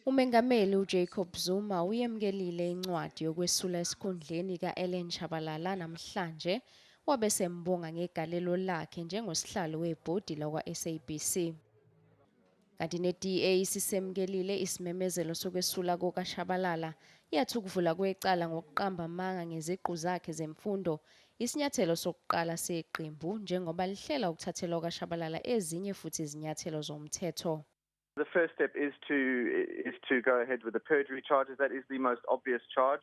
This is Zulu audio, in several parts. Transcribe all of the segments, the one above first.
UMengameli uJacob Zuma uyemukelile incwadi yokwesula esikhundleni ka-Ellen Shabalala namhlanje wabe sembonga ngegalelo lakhe njengosihlalo webhodi lakwa-SABC. Kanti ne-DA isisemkelile isimemezelo sokwesula kukaShabalala, yathi ukuvula kwecala ngokuqamba amanga ngeziqu zakhe zemfundo isinyathelo sokuqala seqembu njengoba lihlela ukuthathelwa ukaShabalala ezinye futhi izinyathelo zomthetho. The first step is to is to go ahead with the perjury charges. That is the most obvious charge.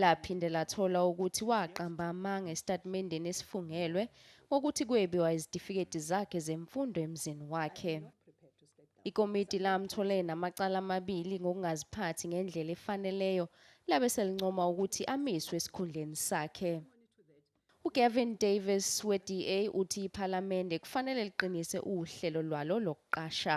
Laphinde lathola ukuthi waqamba amanga esitatimendeni esifungelwe ngokuthi kwebiwa izitifiketi zakhe zemfundo emzini wakhe. Ikomiti lamthole namacala amabili ngokungaziphathi ngendlela efaneleyo labe selincoma ukuthi amiswe esikhundleni sakhe. UGavin Davis we-DA uthi iPhalamende kufanele liqinise uhlelo lwalo lokuqasha.